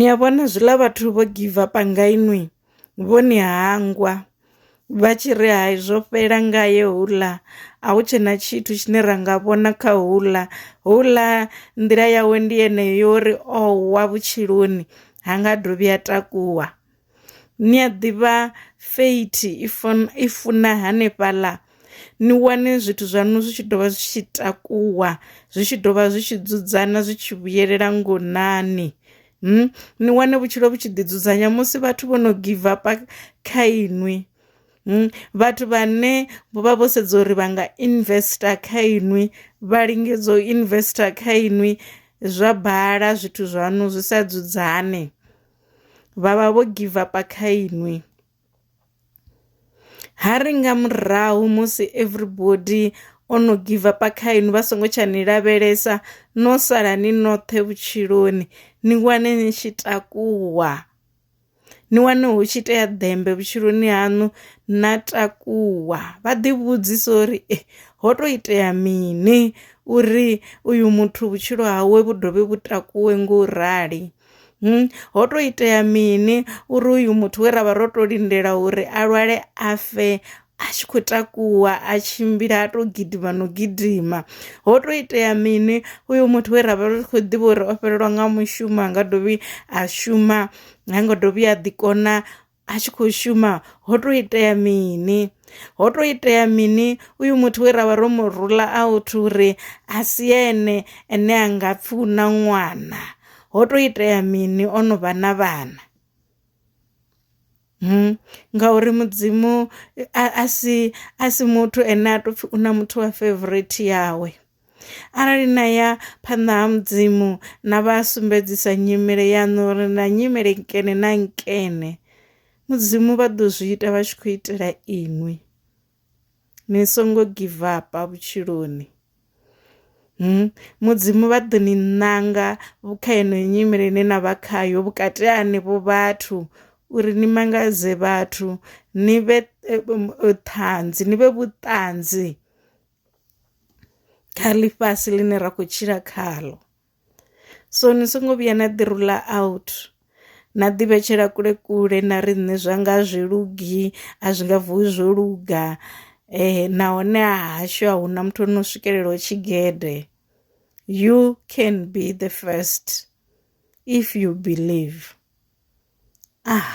ni a vhona zwiḽa vhathu vho give up nga inwi vho ni hangwa vha tshi ri hai zwo fhela ngaye houḽa a hu tshena tshithu tshine ra nga vhona kha houḽa houḽa nḓila yawe ndi yeneyo yo ri o wa vhutshiloni ha nga dovhi a takuwa ni a ḓivha fate i funa hanefhaḽa ni wane zwithu zwaṋu zwi tshi dovha zwi tshi takuwa, zwi tshi dovha zwi tshi dzudzana zwi tshi vhuyelela ngonani. Ni wane vhutshilo vhu tshi ḓi dzudzanya musi vhathu vho no give up kha inwi, vhathu vha ne vho vha vho sedza uri vha nga investor kha inwi vha lingedza u investor kha inwi zwa bala zwithu zwaṋu zwi sa dzudzanyee vhavha vho give up kha inwi. Ha ri nga murahu musi everybody o no give up kha inwi vha songo tsha ni lavhelesa no sala ni noṱhe vhutshiloni ni wane ni tshi takuwa, ni wane hu tshi itea ḓembe vhutshiloni hanu na takuwa vha ḓi vhudzisa uri ho to itea mini uri uyu muthu vhutshilo hawe vhu dovhe vhu takuwe ngo rali. Hmm, ho to itea mini uri uyu muthu we ra vha ro to lindela uri a lwale a fe a tshi khou takuwa a tshimbila a to gidima no gidima ho to itea mini uyu muthu we ra vha ri khou ḓivha uri o fhelelwa nga mushumo a nga dovhi a shuma ha ngo dovhi a ḓi kona a tshi khou shuma ho to itea mini ho to itea mini uyu muthu we ravha ro mu rula a u thu uri a si ene ene a nga pfi u na ṅwana ho to itea mini o no vha na vhana Hmm. ngauri mudzimu a si a si muthu ene a to pfhi una muthu wa favorite yawe Arali na ya phanḓa ha mudzimu na vha sumbedzisa nyimele yaṋu uri na nyimele nkene na nkene mudzimu vha ḓo zwi ita vha tshi khou itela inwi ni songo give up vhutshiloni hmm? mudzimu vha ḓo ni ṋanga kha yeneyo nyimele ine na vha khayo vhukati ha henevho vhathu uri ni mangadze vhathu ni vhe eh, eh, ṱhanzi ni vhe vhuṱanzi kha ḽifhasi ḽine ra khou tshila khaḽo so ni songo vhuya na ḓi rula out na ḓi vhetshela kule kule na ri nṋe zwa nga zwi lugi a zwi nga vuwi zwo luga eh nahone ha hashu a huna muthu ono swikelela u tshigede you can be the first if you believe ah.